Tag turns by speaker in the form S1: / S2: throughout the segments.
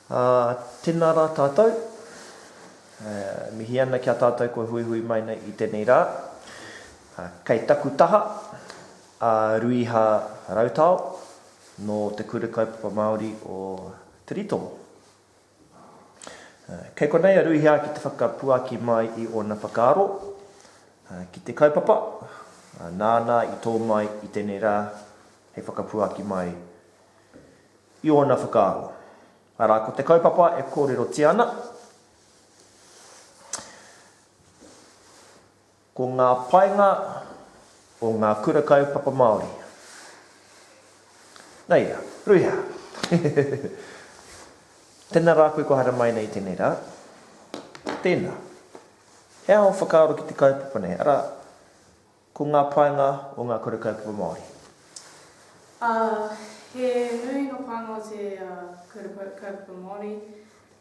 S1: Ā, tēnā rā tātou. Ā, mihi ana ki a tātou kua huihui mai nei i tēnei rā. Ā, kei taku taha, a Ruiha Rautao, nō Te Kura Kaupapa Māori o Te Ritomo. Kei konei a Ruihia ki te whakapuaki mai i ōna whakaaro ki te kaupapa, nāna i tō mai i tēnei rā hei whakapuaki mai i ōna whakaaro. Arā, ko te kaupapa e kōrerotia ana, Ko ngā painga o ngā Kura Kaupapa Māori. Reira, ruia. Tēnā rā koe kua haere mai nei i tēnei rā. Tēnā. He aha ō whakaaro ki te kaupapa nei, arā, ko ngā painga o ngā Kura Kaupapa Māori? Ā, he
S2: nui ngā painga o te Kura Kaupapa Māori.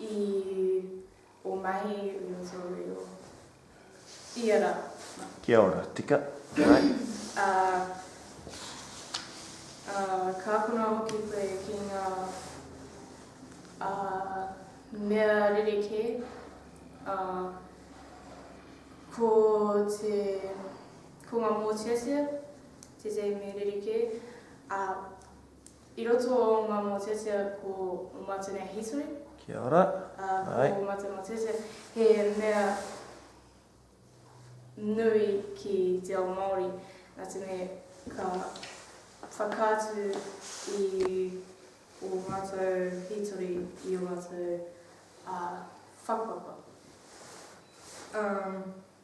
S2: I o Mahi reo tō reo. Ia rā, nā. Kia
S1: ora, tika, right. Ā,
S2: ā, ka ākona hoki koe ki ngā, ā, mea rerekē, ā, ko te, ko ngā mōteatea tētahi mea rerekē, ā. I roto o ngā motetea ko Matene Hitori. Kia ora.
S1: Ā, ko Mate
S2: Motetea, he mea nui ki te ao Māori, nā te mea ka whakaatu i ō mātou hītori, i ō mātou whakapapa. Ā.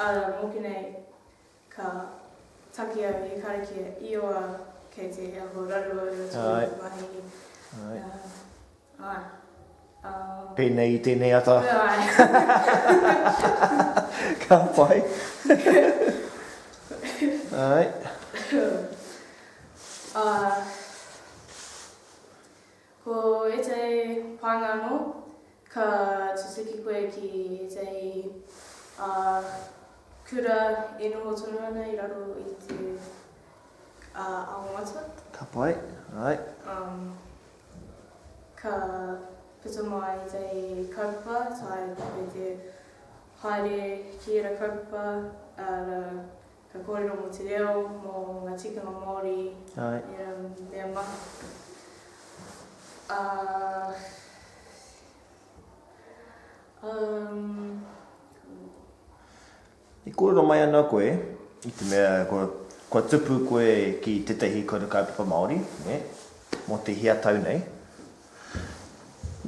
S2: Arā, mōku nei, ka taki au he karakia i o a kei te aho raru au i roto i te wāhi i. Āe. Āe.
S1: Pēnei i tēnei ata. Āe. Ka pai. Āe. Āe.
S2: Ko ētahi pānga anō ka tutuki koe ki ētahi kura e noho tonu ana i raro i te ao matua. Ka pai,
S1: right.
S2: Ka puta mai ētahi kaupapa, tae ki te haere ki ērā kaupapa, arā, Ka
S1: kōrero mō te reo, mō ngā tikanga Māori, ia mea maha. Ā, umm, ū. E kōrero mai ana koe, i te mea kua, kua tupu koe ki tētahi kura kaupapa Māori, nē, mō te hia tau nei.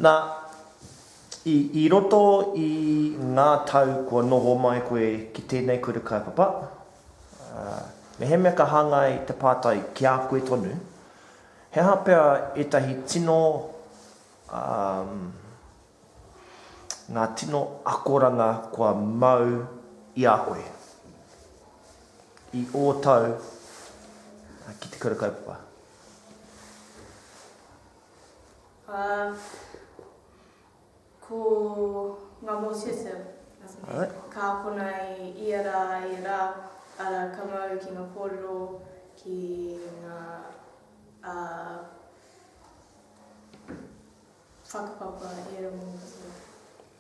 S1: Nā, I roto i ngā tau kua noho mai koe ki tēnei kura kaupapa, mehemea ka hāngai te pātai ki a koe tonu, he aha pea ētahi tino, um, ngā tino akoranga kua mau i a koe i ō tau ki te kura kaupapa? Ā,
S2: ko ngā mōteatea, ka ākona i ia rā, ia rā, arā, ka mau ki ngā kōrero, ki ngā, ā, whakapapa i ērā momo katoa.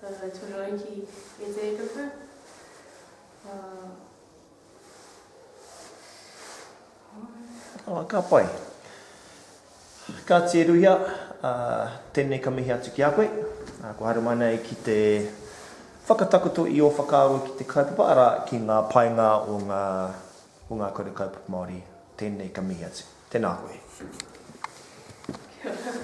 S1: Tātou tonu ai ki ētahi kupu. Ka pai. Kāti e Ruhia, tēnei ka mihi atu ki a koe. Ko haere mai nei ki te whakatakoto i ō whakaaro ki te kaupapa, arā, ki ngā painga o ngā, o ngā kura kaupapa Māori. Tēnei ka mihi atu. Tēnā koe. Kia ora.